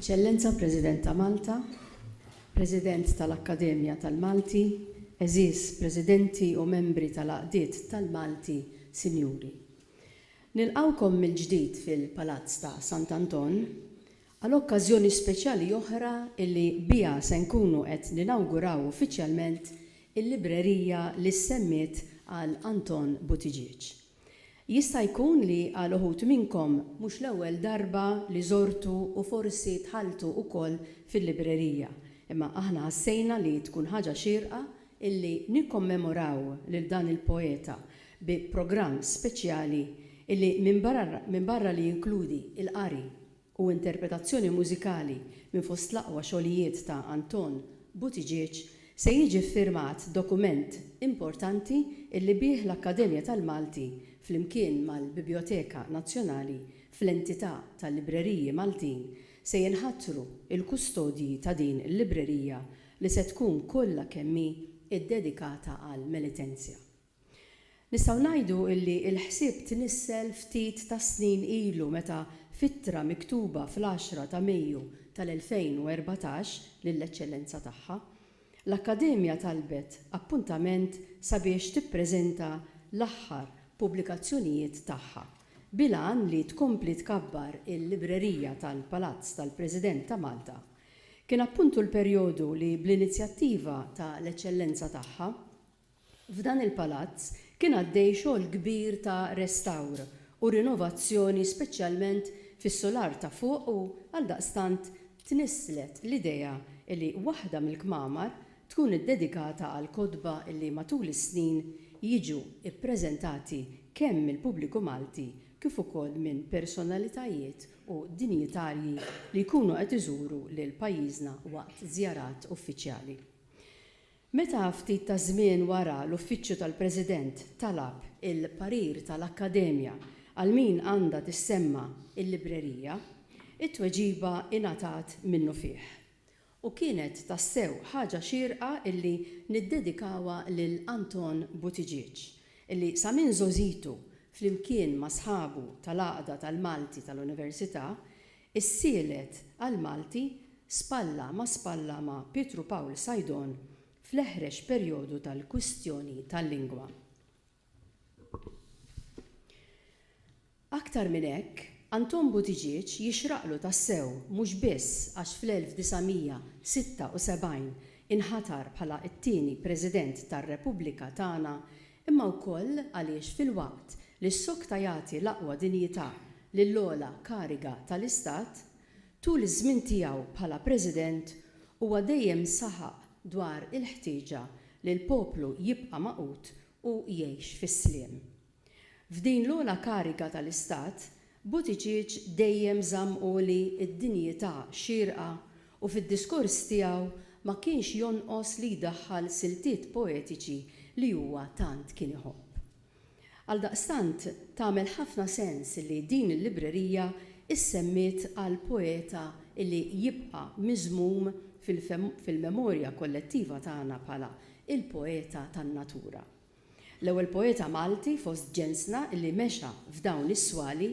Eċċellenza President ta' Malta, President tal-Akkademja tal-Malti, għeżież Presidenti u Membri tal-Għaqdiet tal-Malti, Sinjuri. Nilqgħukom mill-ġdid fil-Palazz ta' Sant'Anton Għal okkażjoni speċjali oħra li biha se nkunu qed ninawguraw uffiċjalment il-librerija li ssemmiet għal Anton Buttigieg. Jista' jkun li għal uħud minnkom mhux l-ewwel darba li żortu u forsi dħaltu ukoll fil-librerija, imma aħna ħassejna li tkun ħaġa xierqa illi nikkommemoraw lil dan il-poeta bi programm speċjali illi minbarra li jinkludi il-qari u interpretazzjoni mużikali minn fost l-aqwa xogħlijiet ta' Anton Buttigieg, se jiġi ffirmat dokument importanti illi bih l-Akkademja tal-Malti flimkien mal-Bibjoteka Nazzjonali fl-entità ta' Libreriji Maltin se jinħatru l-kustodji ta' din il-librerija li se tkun kollha kemm hi ddedikata għall-Melitensia. Nistgħu ngħidu illi l-ħsieb tnissel ftit tas-snin ilu meta f'ittra miktuba fl-għaxra ta' Mejju tal-2014 lill-Eċċellenza Tagħha, l-Akkademja talbet appuntament sabiex tippreżenta l-aħħar pubblikazzjonijiet tagħha, bil-għan li tkompli tkabbar il-Librerija tal-Palazz tal-President ta' Malta. Kien appuntu l-perjodu li bl-inizjattiva ta' l-Eċċellenza Tagħha, F'dan il-palazz kien għaddej xogħol kbir ta' restawr u rinovazzjoni speċjalment fis-sular ta' fuq u, għaldaqstant, tnisslet l-idea li waħda mill-kmamar tkun iddedikata għall-kotba li matul is-snin jiġu ppreżentati kemm mill-pubbliku Malti kif ukoll minn personalitajiet u dinjitarji li jkunu qed iżuru lil pajjiżna waqt żjarat uffiċjali. Meta ftit taż-żmien wara l-Uffiċċju tal-President talab il-parir tal-Akkademja għal min għandha tissemma l-librerija, it-tweġiba ingħatat minnufih. U kienet tassew ħaġa xierqa illi niddedikawha lil Anton Buttigieg, illi sa minn żgħożitu flimkien ma' sħabu tal-Għaqda tal-Malti tal-Università, Is-sielet għall-Malti spalla ma' spalla ma' Pietru Pawl Saidon fl-eħrex perjodu tal-kwistjoni tal-lingwa. Aktar minn hekk, Anton Buttigieg jixraqlu tassew mhux biss għax fl-1976 inħatar bħala t-tieni President tar-Repubblika tagħna imma wkoll għaliex filwaqt li s-sokta jagħti l-aqwa dinjità lill-ogħla kariga tal-Istat, tul iż-żmien tiegħu bħala President huwa dejjem saħaq dwar il-ħtieġa li l-poplu jibqa' magħqud u jgħix fis-sliem. F'din l-ogħla kariga tal-Istat Buttigieg dejjem żamm għoli d-dinjità xierqa u fid-diskors tiegħu ma kienx jonqos li jdaħħal siltiet poetiċi li huwa tant kien iħobb. Għaldaqstant tagħmel ħafna sens li din il-librerija issemmiet għal poeta li jibqa' miżmum fil-memorja kollettiva tagħna bħala il-poeta tan-natura. L-ewwel poeta Malti fost ġensna li mexa f'dawn is-swali,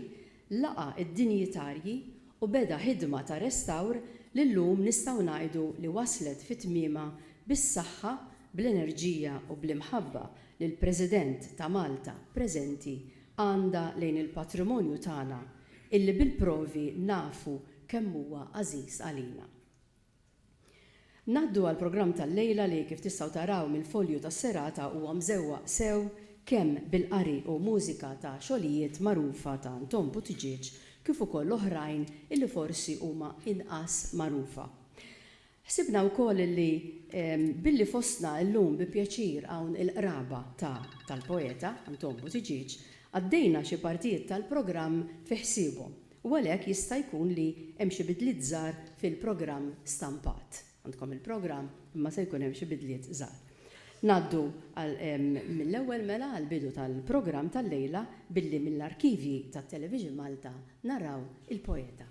laqa' d-dinjitarji u beda ħidma ta' restawr li llum nistgħu ngħidu li waslet fi tmiemha bis-saħħa, bl-enerġija u bl-imħabba li l-President ta' Malta preżenti għandha lejn il-patrimonju tagħna illi bil-provi nafu kemm huwa għażiż għalina. Ngħaddu għall-programm tal-lejla li kif tistgħu taraw mill-folju tas-serata huwa mżewwaq sew kemm bil-qari u mużika ta' xogħlijiet magħrufa ta' Anton Buttigieg kif ukoll oħrajn illi forsi huma inqas magħrufa. Ħsibna wkoll illi billi fostna llum bi pjaċir hawn il-qraba ta' tal-poeta Anton Buttigieg, għaddejna xi partijiet tal-programm fi ħsiebhom u għalhekk jista' jkun li hemm xi bidliet żgħar fil-programm stampat. Għandkom il-programm imma se jkun hemm xi bidliet żgħar. Ngħaddu mill-ewwel mela għall-bidu tal-programm tal-lejla billi mill-arkivji ta' Television Malta naraw Il-Poeta.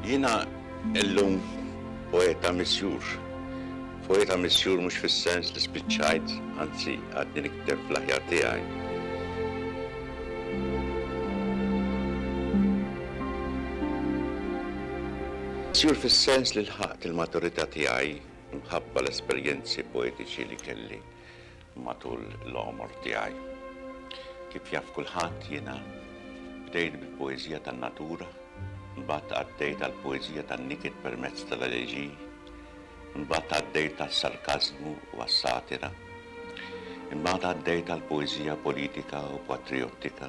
Jiena illum poeta misjur. Poeta misjur mhux fis-sens li spiċċajt, anzi għadni nikteb fl-aħjar tiegħi. Misjur fis-sens li lħaqt il-maturità tiegħi Minħabba l-esperjenzi poetiċi li kelli matul l-għomor tiegħi. Kif jaf kulħadd, jiena bdejt bil-poeżija tan-natura, imbagħad għaddejt għall-poeżija tan-niket permezz tal-eleġiji, imbagħad għaddejt għas-sarkażmu u għas-satira, imbagħad għaddejt għall-poeżija politika u patrijottika,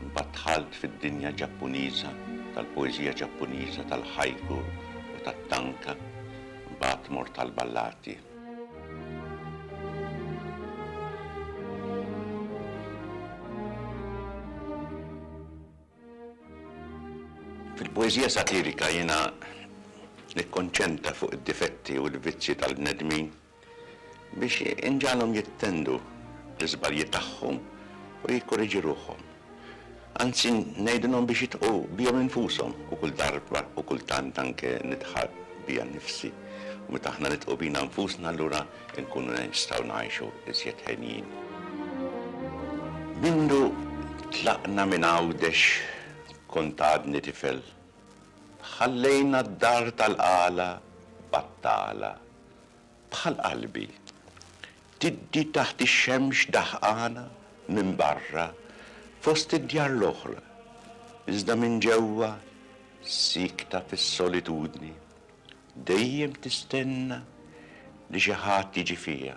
Imbagħad dħalt fid-dinja Ġappuniża tal-poeżija Ġappuniża tal-haiku u tat-tanka, imbagħad mort għall-ballati. Fil-poeżija satirika jiena nikkonċentra fuq id-difetti u l-vizzji tal-bnedmin biex inġagħalhom jittendu l-iżbalji tagħhom u jikkoriġu ruħhom. Anzi, ngħidilhom biex jidħqu bihom infushom u kull darba u kultant anke nidħaq bija nnifsi. U meta aħna nidħqu bina nfusna allura nkunu nistgħu ngħixu iżjed henjin. Mindu tlaqna minn Għawdex kont għadni tifel. Ħallejna d-dar tal-qala battala bħal qalbi, tiddi taħt ix-xemx daħqana minn barra fost id-djar l-oħra, iżda minn ġewwa siekta fis-solitudni, dejjem tistenna li xi ħadd jiġi fiha.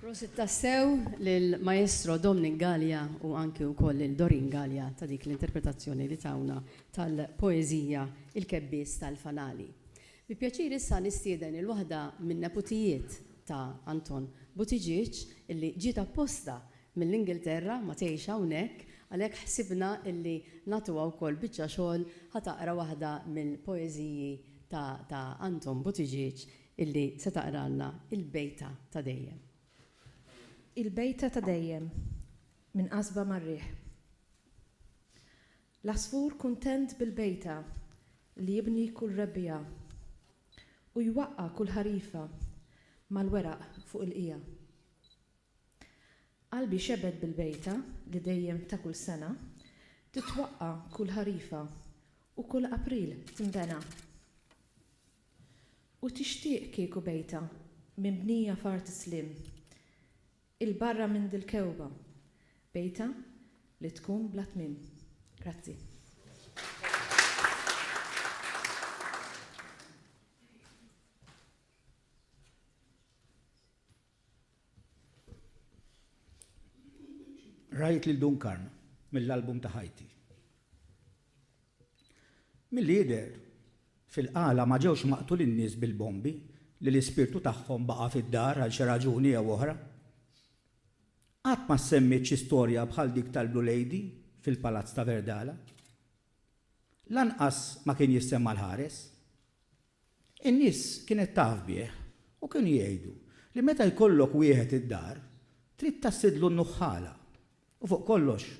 Prosit tassew lil Maestro Dominic Galea u anki wkoll lil Doreen Galea ta' dik l-interpretazzjoni li tawna tal-poeżija Il-Kebbies tal-Fanali. Bi pjaċir issa nistieden lil waħda min-neputijiet ta' Anton Buttigieg illi ġiet apposta mill-Ingilterra ma tgħix hawnhekk għalhekk ħsibna illi nagħtuha wkoll biċċa xogħol ħa taqra waħda mill-poeżiji ta' ta' Anton Buttigieg Illi se taqralna il-bejta ta' dejjem. Il-bejta ta' dejjem, Minn qasba mar-riħ. L-għasfur kuntent bil-bejta li jibni kull Rebbiegħa, u jwaqqa' kull ħarifa mal-weraq fuq il-qiegħa. Qalbi xebet bil-bejta li dejjem ta' kull sena titwaqqa' kull ħarifa u kull April tinbena. U tixtieq kieku bejtha minbnija f'art is-sliem, 'il barra minn dil-kewba, bejtha li tkun bla tmiem. Grazzi. Rajt lil Dunkarn mill-album ta' ħajti. Milli jidher, fil-qala ma ġewx maqtulin nies bil-bombi li l-ispirtu tagħhom baqa' fid-dar għal xi raġuni jew oħra. Qatt ma ssemmiet xi storja bħal dik tal-Blue Lady fil-Palazz ta' Verdala. Lanqas ma kien jissemma l-ħares. In-nies kienet taf bih u kienu jgħidu li meta jkollok wieħed id-dar, trid tassidlu n-nuħħala u fuq kollox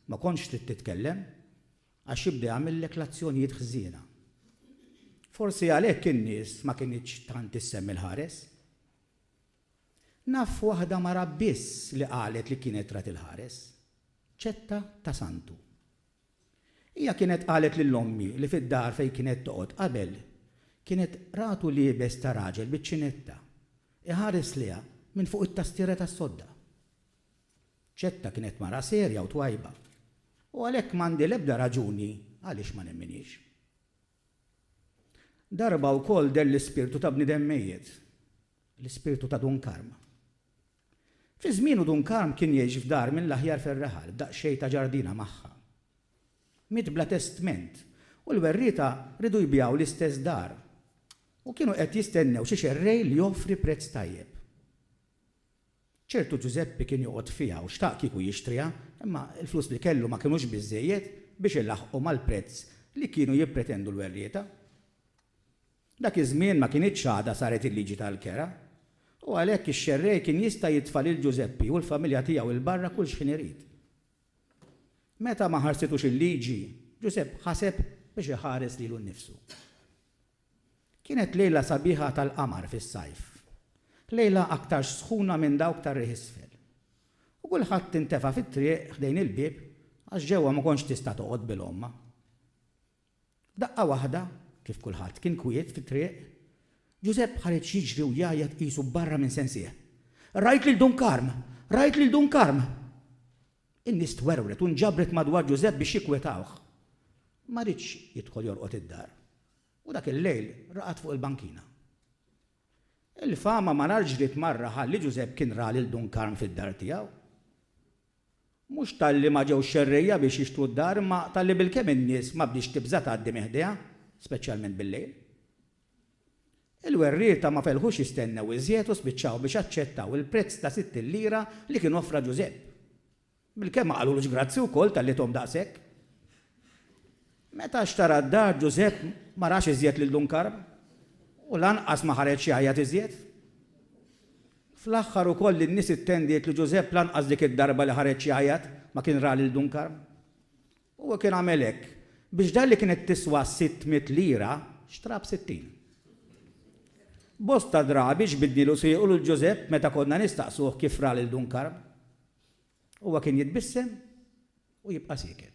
ma kontx trid titkellem għax jibda jagħmillek l-azzjonijiet ħżiena. Forsi għalhekk in-nies ma kinitx tant issemmi l-ħares. Naf waħda mara biss li qalet li kienet rat il-ħares, ċetta ta' santu. Hija kienet qalet lil ommi li fid-dar fejn kienet toqgħod qabel kienet ratu liebes ta' raġel biċ-ċinetta iħares lejha minn fuq it-tastiera tas-sodda. Ċetta kienet mara serja u twajba u għalhekk m'għandi l-ebda raġuni għaliex ma nemminhiex. Darba wkoll deher l-ispirtu ta' bniedem mejjet, l-ispirtu ta' Dun Karm. Fi żmienu Dun Karm kien jgħix f'dar mill-aħjar fir-raħal b'daqsxejn ta' ġardina magħha. Miet bla testment u l-werrieta riedu jbigħu l-istess dar u kienu qed jistennew xi xerrej li joffri prezz tajjeb. Ċertu Ġużeppi kien joqgħod fiha u xtaq kieku jixtriha imma l-flus li kellu ma kinux biżżejjed biex ilaħħqu mal-prezz li kienu jippretendu l-werrieta. Dak iż-żmien ma kinitx għadha saret il-liġi tal-kera, u għalhekk ix-xerrej kien jista' jitfa' lil Ġużeppi u l-familja tiegħu 'l barra kull x'ħin irid. Meta ma ħarsitux il-liġi, Ġużepp ħaseb biex iħares lilu nnifsu. Kienet lejla sabiħa tal-qamar fis-sajf, lejla aktarx sħuna minn dawk tar-riħ isfel, u kulħadd intefa' fit-triq ħdejn il-bieb għax ġewwa ma kontx tista' toqgħod bil-għomma. F'daqqa waħda, kif kulħadd kien kwiet fit-triq, Ġużepp ħareġ jiġri u jgħajjat qisu barra minn sensih, Rajt lil Dun Karm! Rajt lil Dun Karm! In-nies twerwret u nġabret madwar Ġużepp biex jikkwetawh. Ma riedx jidħol jorqod id-dar u dak il-lejl raqad fuq il-bankina. Il-fama malar ġriet mar-raħal li Ġużepp kien ra lil Dun Karm fid-dar tiegħu. Mhux talli ma ġewx xerrejja biex jixtru d-dar imma talli bilkemm in-nies ma bdiex tibża' tgħaddi minn ħdejha, speċjalment bil-lejl. Il-werrieta ma felħux jistennew iżjed u spiċċaw biex aċċettaw il-prezz ta' sittin lira li kien offra Ġużepp. Bilkemm ma qalulux grazzi wkoll talli thom daqshekk. Meta xtara d-dar Ġużepp ma rax iżjed lil Dun Karm u lanqas ma ħareġ jgħajjat iżjed. Fl-aħħar ukoll in-nies ittendiet li Ġużepp lanqas dik id-darba li ħareġ jgħajjat ma kien ra lil Dun Karm. Huwa kien għamel hekk biex dar li kienet tiswa sitt mitt lira xtraha b'sittin. Bosta drabi ġbidnielu siequ lil Ġużepp meta konna nistaqsuh kif ra lil Dun Karm. Huwa kien jitbissem u jibqa' sieket.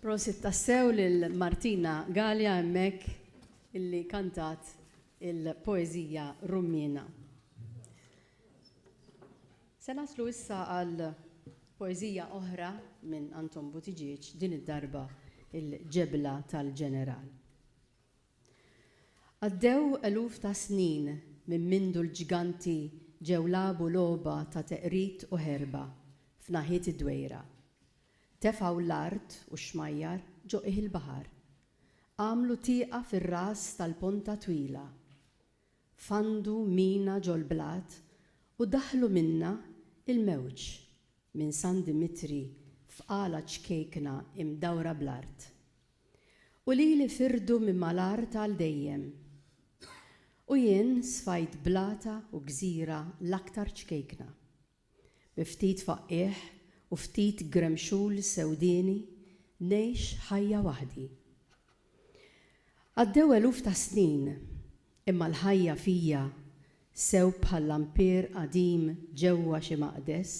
Prosit tassew lil Martina Galea hemmhekk illi kantat il-poeżija Rummiena. Se naslu issa għal poeżija oħra minn Anton Buttigieg din id-darba il-Ġebla tal-Ġeneral. Għaddew eluf ta' snin minn mindu l-ġganti ġew lagħbu logħba ta' teqrid u ħerba f'naħiet id-Dwejra. Tefgħu l-art u x-xmajjar ġo qiegħ il-baħar. Għamlu tieqa fir-ras tal-ponta twila. Fandu mina ġol-blat u daħħlu minnha il-mewġ minn San Dimitri f'qala ċkejkna imdawra bl-art. U lili firdu minn mal-art għal dejjem. U jien sfajt blata u gżira l-aktar ċkejkna. Bi ftit faqqiegħ u ftit gremxul sewdieni ngħix ħajja waħdi. Għaddew eluf ta' snin, imma l-ħajja fija, sew bħal lampier qadim ġewwa xi maqdes,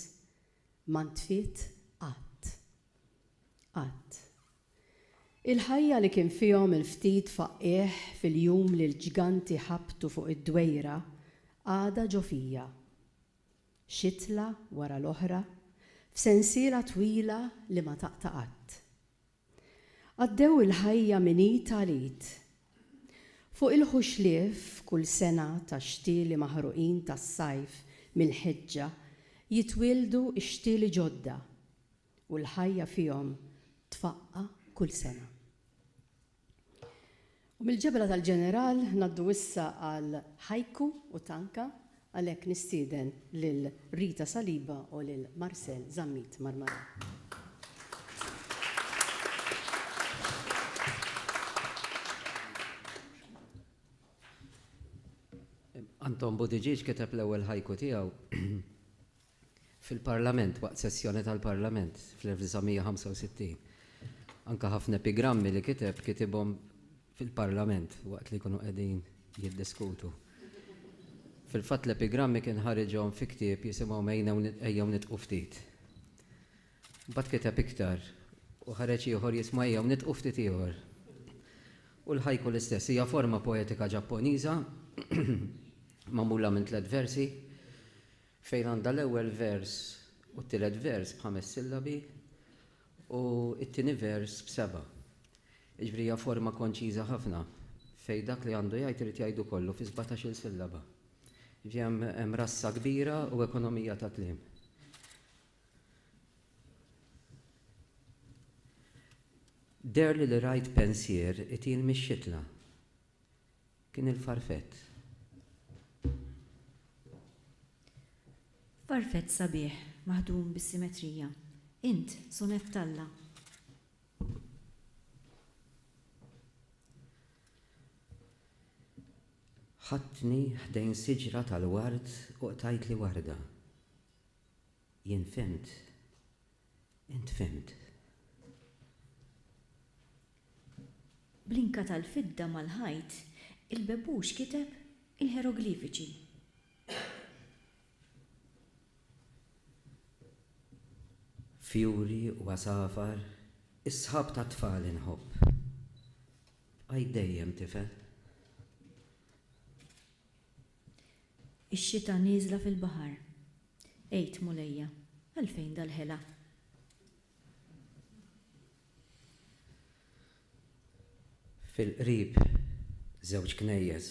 ma ntfiet qatt. Qatt. Il-ħajja li kien fihom il-ftit faqqiegħ fil-jum li l-ġganti ħabtu fuq id-dwejra għadha ġo fija. xitla wara l-oħra, f'sensiela twila li ma taqta' qatt. Għaddew il-ħajja minn id għal id. Fuq il-ħuxlief kull sena tax-xtieli maħruqin tas-sajf mill-ħeġġa jitwieldu x-xtieli ġodda u l-ħajja fihom tfaqqa' kull sena. U mill-ġebla tal-ġeneral ngħaddu issa għal Haiku u Tanka, għalhekk nistieden lil Rita Saliba u lil Marcel Zammit Marmarà. Anton Buttigieg kiteb l-ewwel haiku tiegħu. fil-Parlament waqt sessjoni tal-Parlament fl-1965. Anke ħafna epigrammi li kiteb kitibhom fil-Parlament waqt li jkunu qegħdin jiddiskutu. Fil-fatt l-epigrammi kien ħariġhom fi ktieb jisimhom Ejjew Nidqu Ftit. Mbagħad kiteb iktar u ħareġ ieħor jismu Ejjew Nidqu Ftit Ieħor. U l-haiku l-istess, hija forma poetika Ġapponiża magħmula minn tliet versi Fejn għandha l-ewwel vers u t-tielet vers b'ħames sillabi u t-tieni vers b'seba'. Jiġifieri hija forma konċiża ħafna fejn dak li għandu jgħid irid jgħidu kollu fi sbatax-il sillaba. Jiġifieri hemm rassa kbira u ekonomija ta' kliem. Deherli li rajt pensier itil mix-xitla. Kien il-farfett. Farfett sabiħ, maħdum bis-simetrija. Int, sonett t'Alla. Ħadtni ħdejn siġra tal-ward u qtajtli warda. Jien fhimt Int fhimt. Bl-inka tal-fidda mal-ħajt, il-bebbuċ kiteb il-ħeroglifiċi. Fjuri u għasafar, is-sħab tat-tfal inħobb. Bqajt dejjem tifel. Ix-xita nieżla fil-baħar. Għid, Mulejja, għalfejn dal-ħela? Fil-qrib żewġ knejjes.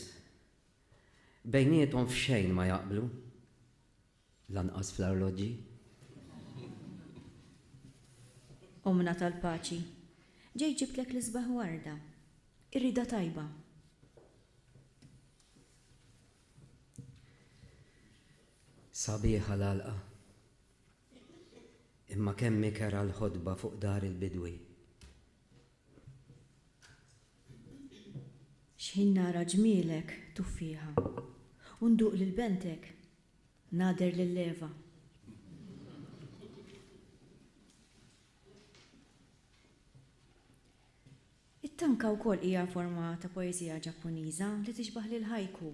Bejniethom f'xejn ma jaqblu, lanqas fl-arloġġi. Ommna tal-paċi, ġejt ġibtlek l-isbaħ warda. Irriedha tajba. Sabiħa l-għalqa. Imma kemm hi kerha l-ħotba fuq dar il-bidwi. X'ħin nara ġmielek tuffieħa. U nduq lil bentek, nagħder lil Eva. It-tanka wkoll hija forma ta' poeżija Ġappuniża li tixbah lill-haiku,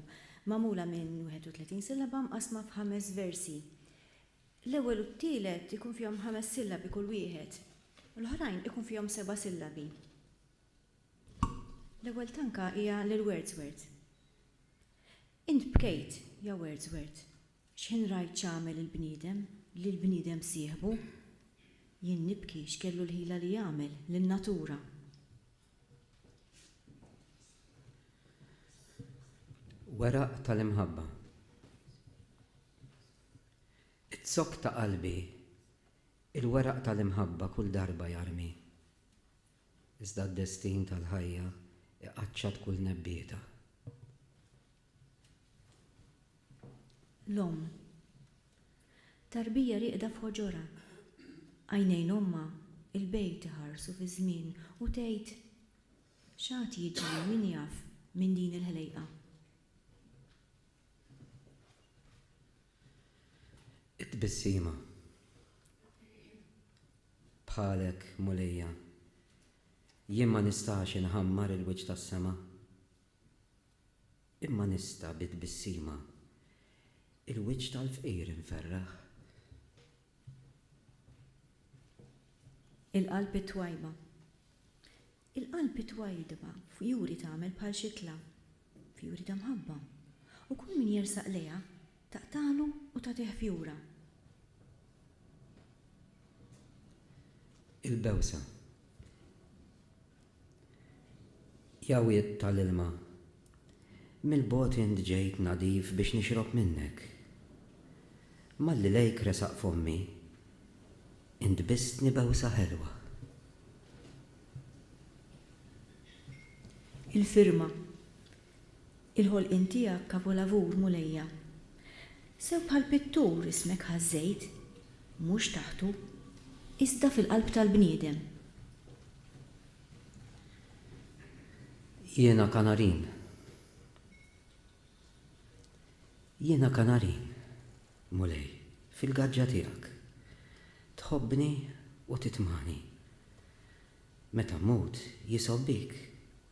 magħmula minn 31 sillaba mqassma f'ħames versi. L-ewwel u t-tielet ikun fihom ħames sillabi kull wieħed, u l-oħrajn ikun fihom seba' sillabi. L-ewwel tanka hija lil Wordsworth. Int bkejt, ja Wordsworth. X'ħin rajt x'għamel il-bniedem li l-bniedem sieħbu? Jien nibki x'kellu l-ħila li jagħmel lin-natura. Weraq tal-imħabba. Iz-zokk ta' qalbi il-weraq tal-imħabba kull darba jarmi. Iżda d-destin tal-ħajja iqaċċat kull nebbieta. L-omm. Tarbija rieqda f'ħoġorha. Għajnejn ommha, il-bejt, iħarsu fiż-żmien u tgħid, X'għad jiġri, min jaf, minn din il-ħlejqa? It-tbissima. Bħalek, Mulejja, jien ma nistax inħammar il-wiċċ tas-sema. Imma nista' bi tbissima Il-wiċċ tal-fqir inferraħ. Il-qalb it-twajba Il-qalb it-twajdba fjuri tagħmel bħal xitla, fjuri ta' mħabba, u kull min jersaq lejha taqtagħlu u tagħtih fjura. Il-bewsa Jawwiet ta' l-ilma, mill-bogħod int ġejt nadif biex nixrob minnek. Malli lejk resaq fommi, int bisstni bewsa ħelwa. Il-firma, Il-ħolqien tiegħek kavolavur, Mulejja. Sew bħal pittur ismek ħażżejt, mhux taħtu, iżda fil-qalb tal-bniedem. Jiena kanarin. Jiena kanarin, Mulej, fil-gaġġa tiegħek. Tħobbni u titmani. Meta mmut, jisob bik.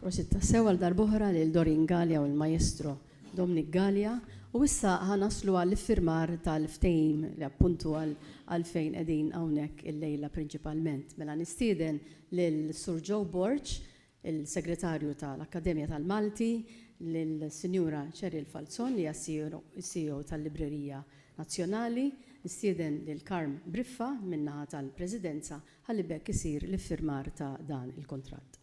Prosit tassew għal darb'oħra lil Doreen Galea u l-Maestro Dominic Galea u issa ħa naslu għall-iffirmar tal-ftehim li appunt hu għalfejn qegħdin hawnhekk illejla prinċipalment. Mela nistieden lil Sur Joe Borg, il-Segretarju tal-Akkademja tal-Malti, lis-Sinjura Cheryl Falzon li hija s-CEO tal-Librerija Nazzjonali, nistieden lil Carm Briffa min-naħa tal-Presidenza ħalli b'hekk isir l-iffirmar ta' dan il-kuntratt.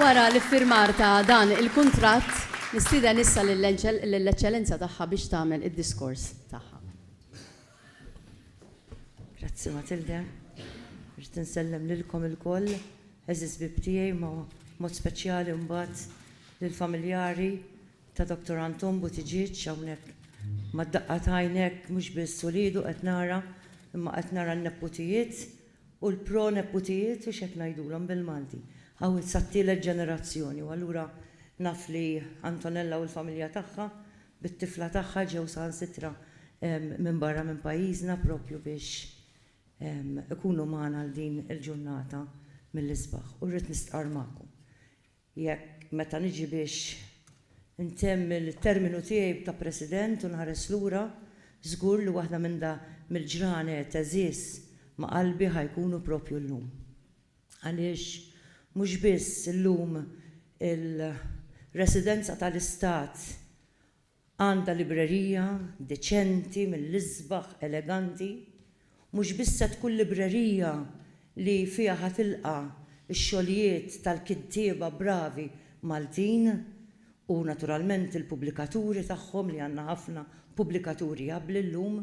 Wara l-iffirmar ta' dan il-kuntratt, nistieden issa lill-Eċċellenza Tagħha biex tagħmel id-diskors tagħha. Grazzi Matilde. Irrid insellem lilkom ilkoll, għeżież bieb tiegħi, ma' mod speċjali mbagħad lill-familjari, ta' Doctor Anton Buttigieg hawnhekk mad-daqqa ta' għajnek mhux biss uliedu qed nara imma qed nara n-neputijiet u l-pro neputijiet u x'hekk ngħidulhom bil-Malti hawn sat-tielet ġenerazzjoni u allura naf li Antonella u l-familja tagħha bit-tifla tagħha ġew saħansitra minn barra minn pajjiżna propju biex ikunu magħna għal din il-ġurnata mill-isbaħ u rrid nistqarr magħkom Jekk, meta niġi biex intemm il-terminu tiegħi ta' President u nħares lura, żgur li waħda minn da mill-ġranet għeżież ma' qalbi ħa jkunu proprju llum. Għaliex mhux biss illum il-Residenza tal-Istat Għandha librerija deċenti mill-isbaħ eleganti, mhux biss se tkun librerija li fiha ħa tilqa' x-xogħlijiet tal-kittieba bravi Maltin u naturalment il-pubblikaturi tagħhom li għandna ħafna pubblikaturi abbli llum,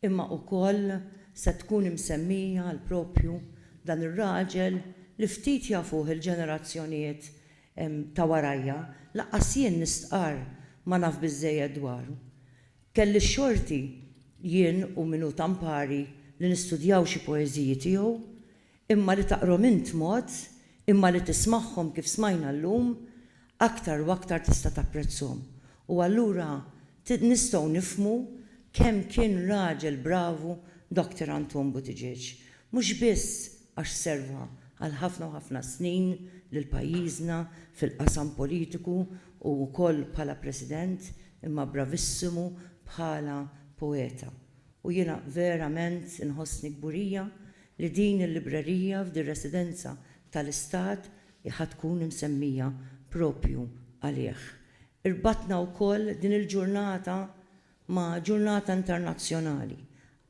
imma ukoll se tkun imsemmija għal propju dan ir-raġel li ftit jafuh il-ġenerazzjonijiet hemm ta' warajja, lanqas jien nistqarr ma naf biżżejjed dwaru. Kelli x-xorti, jien u min hu ta' mpari, li nistudjaw xi poeżiji tiegħu, imma li taqrhom int mod, imma li tismagħhom kif smajna llum, aktar u aktar tista' tapprezzhom. U allura Nistgħu nifhmu kemm kien raġel bravu Doctor Anton Buttigieg, mhux biss għax serva għal ħafna u ħafna snin lil pajjiżna fil-qasam politiku u wkoll bħala President imma bravissimu bħala poeta. U jiena verament inħossni kburija li din il-librerija f'dir-residenza tal-Istat hi ħa tkun imsemmija proprju għalih. Irbatna wkoll din il-ġurnata ma' ġurnata internazzjonali.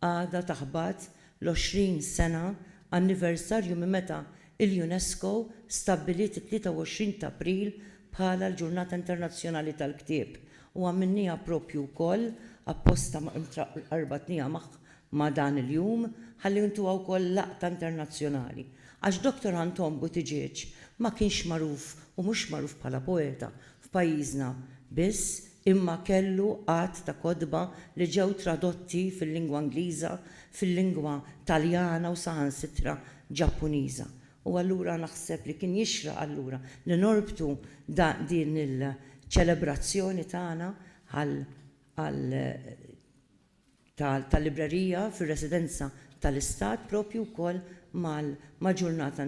Għada taħbat l-20 sena anniversarju minn meta l-UNESCO stabbiliet it-23 t'April bħala l-Ġurnata Internazzjonali tal-Ktieb u għamilniha proprju wkoll apposta, rbatniha ma' dan il-jum ħalli ntuha wkoll laqta internazzjonali għax Doctor Anton Buttigieg ma kienx magħruf u mhux magħruf bħala poeta f'pajjiżna biss imma kellu għadd ta' kotba li ġew tradotti fil-lingwa Ingliża, fil-lingwa Taljana u saħansitra Ġappuniża. U allura naħseb li kien jixraq allura li norbtu din il-ċelebrazzjoni tagħna għal tal-librerija fir-residenza tal-Istat proprju wkoll mal-Ġurnata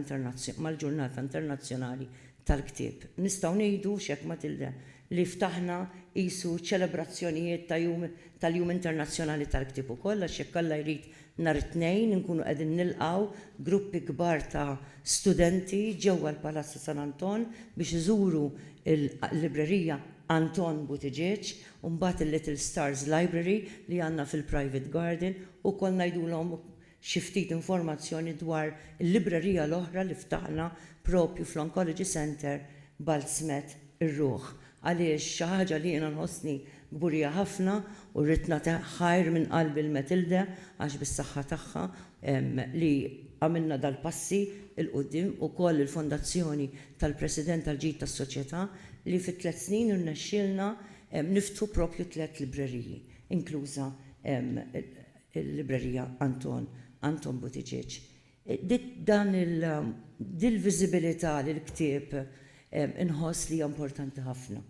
Internazzjonali tal-Ktieb. Nistgħu ngħidu, x'hekk Matilde, li ftaħna qisu ċelebrazzjonijiet ta' jum tal-Jum Internazzjonali tal-Ktieb ukoll għax jekk Alla jrid nhar it-Tnejn inkunu qegħdin nilqgħu gruppi kbar ta' studenti ġewwa l-Palazz ta' San Anton biex iżuru l-librerija Anton Buttigieg U mbagħad il-Little Stars Library li għandna fil-Private Garden, ukoll ngħidulhom xi ftit informazzjoni dwar il-librerija l-oħra li ftaħna proprju fl-Oncology Centre Baltzmet ir-Ruħ. Għaliex xi ħaġa li jiena nħossni kburija ħafna u rrid nagħti ħajr minn qalbi lil Matilde għax bis-saħħa tagħha li għamilna dal-passi 'l quddiem ukoll il-Fondazzjoni tal-President tal-Ġid tas-Soċjetà li fi tliet snin irnexxielna niftħu proprju tliet libreriji, inkluża l-Librerija Anton, Anton Buttigieg. Din il-viżibilità li l-ktieb Inħoss li hija importanti ħafna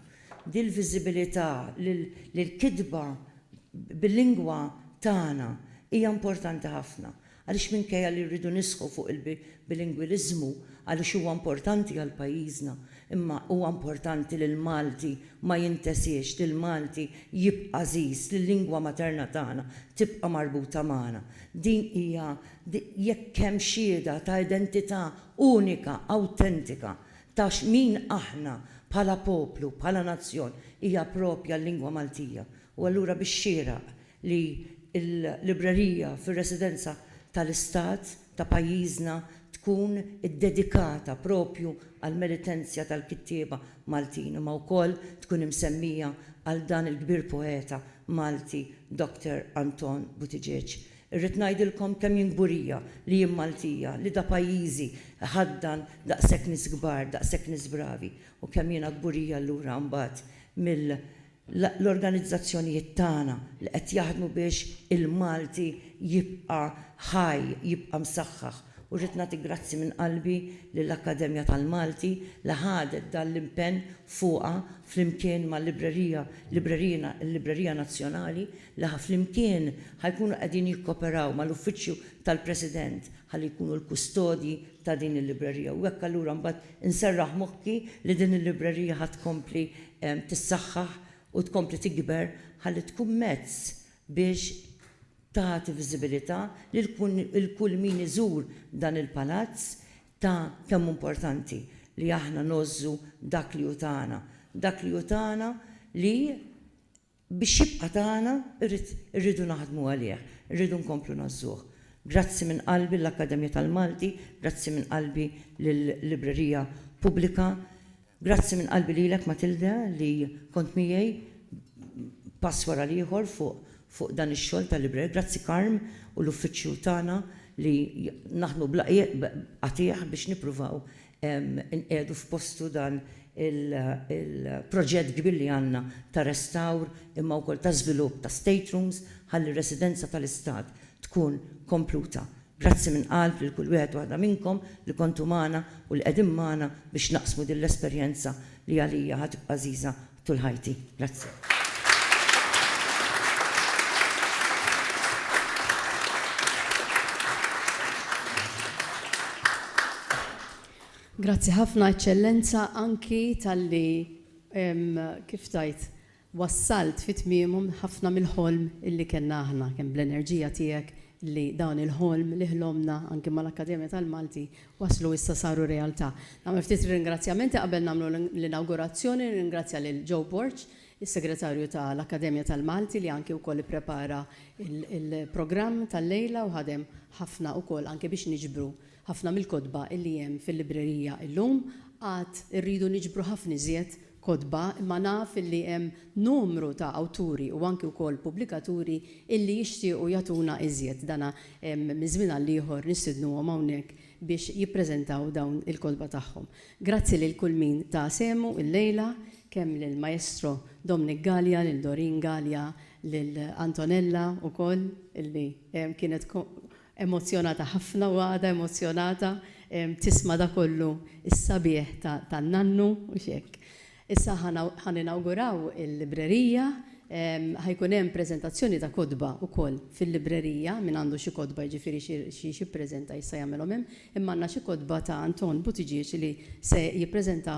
din il-viżibilità li l-kitba bil-lingwa tagħna hija importanti ħafna għaliex minkejja li rridu nisħu fuq il-bilingwiliżmu għaliex huwa importanti għal pajjiżna imma huwa importanti li l-Malti ma jintesiex, li l-Malti jibqa' għażiż, li l-lingwa materna tagħna tibqa' marbuta magħna. Din hija jekk hemm xhieda ta' identità unika, awtentika ta' x'min aħna bħala poplu, bħala nazzjon, hija proprja l-lingwa Maltija u allura bix-xieraq li l-librerija fir-residenza tal-Istat ta' pajjiżna tkun iddedikata proprju għall-meritenzja tal-kittieba Maltin imma wkoll tkun imsemmija għal dan il-kbir poeta Malti Doctor Anton Buttigieg Irrid ngħidilkom kemm jien kburija li jien Maltija, li da pajjiżi jħaddan daqshekk nies kbar, daqshekk nies bravi u kemm jiena kburija allura mbagħad mill-organizzazzjonijiet tagħna li qed jaħdmu biex il-Malti jibqa' ħaj, jibqa' msaħħaħ. U rrid nagħti grazzi minn qalbi lill-Akkademja tal-Malti li ħadet dan l-impenn fuqha flimkien mal-librerija, librerina, il-Librerija Nazzjonali li ħa flimkien ħa jkunu qegħdin jikkoperaw mal-Uffiċċju tal-President ħalli jkunu l-kustodji ta' din il-librerija. U hekk allura mbagħad inserraħ moħħi li din il-librerija ħa tkompli tissaħħaħ u tkompli tikber ħalli tkun mezz biex, tagħti viżibilità lil kull min iżur dan il-palazz ta' kemm hu importanti li aħna ngħożżu dak li hu tagħna, dak li hu tagħna li biex jibqa' tagħna rrid irridu naħdmu għalih, irridu nkomplu ngħożżuh. Grazzi minn qalbi lill-Akkademja tal-Malti, grazzi minn qalbi lil-Librerija Pubblika, Grazzi minn qalbi lilek Matilde li kont miegħi pass wara l-ieħor fuq fuq dan ix-xogħol ta' librer. Grazzi Carm u l-uffiċċju tagħna li naħdmu bla qiegħ b'qatiegħ biex nippruvaw inqiegħdu f'postu dan il-proġett kbir li għandna ta' restawr imma wkoll ta' żvilupp ta' staterooms ħalli r-residenza tal-Istat tkun kompluta. Grazzi minn qalb lil kull wieħed u waħda minnkom li kontu magħna u li qegħdin magħna biex naqsmu din l-esperjenza li għalija ħa tibqa' għażiża tul ħajti. Grazzi. Grazzi ħafna, Eċċellenza, anki talli, kif tgħid, wassalt fi tmiemhom ħafna mill-ħolm illi kellna aħna, kemm bl-enerġija tiegħek illi dan il-ħolm li ħlomna anki mal-Akkademja tal-Malti waslu issa saru realtà. Nagħmel ftit ringrazzjamenti qabel nagħmlu l-inawgurazzjoni, nirringrazzja lil Joe Borg, is-Segretarju tal-Akkademja tal-Malti li anki wkoll ipprepara l-programm tal-lejla u ħadem ħafna wkoll anki biex niġbru Ħafna mill-kotba li hemm fil-librerija illum għad irridu niġbru ħafna iżjed kotba imma naf li hemm numru ta' awturi u anki wkoll pubblikaturi illi jixtiequ jagħtuna iżjed. Dana minn żmien għal ieħor nistidnuhom hawnhekk biex jippreżentaw dawn il-kotba tagħhom. Grazzi lil kull min ta sehmu illejla, kemm lill-Maestro Dominic Galea, lil Doreen Galea, lil Antonella wkoll illi kienet Emozzjonata ħafna u għadha emozzjonata tisma' dak kollu s-sabiħ tan-nannu, mhux hekk? Issa ħa ninawguraw il-librerija, ħa jkun hemm preżentazzjoni ta' kotba wkoll fil-librerija, min għandu xi kotba jiġifieri xi x'jippreżenta jista' jagħmilhom hemm, imma għandna xi kotba ta' Anton Buttigieg li se jippreżenta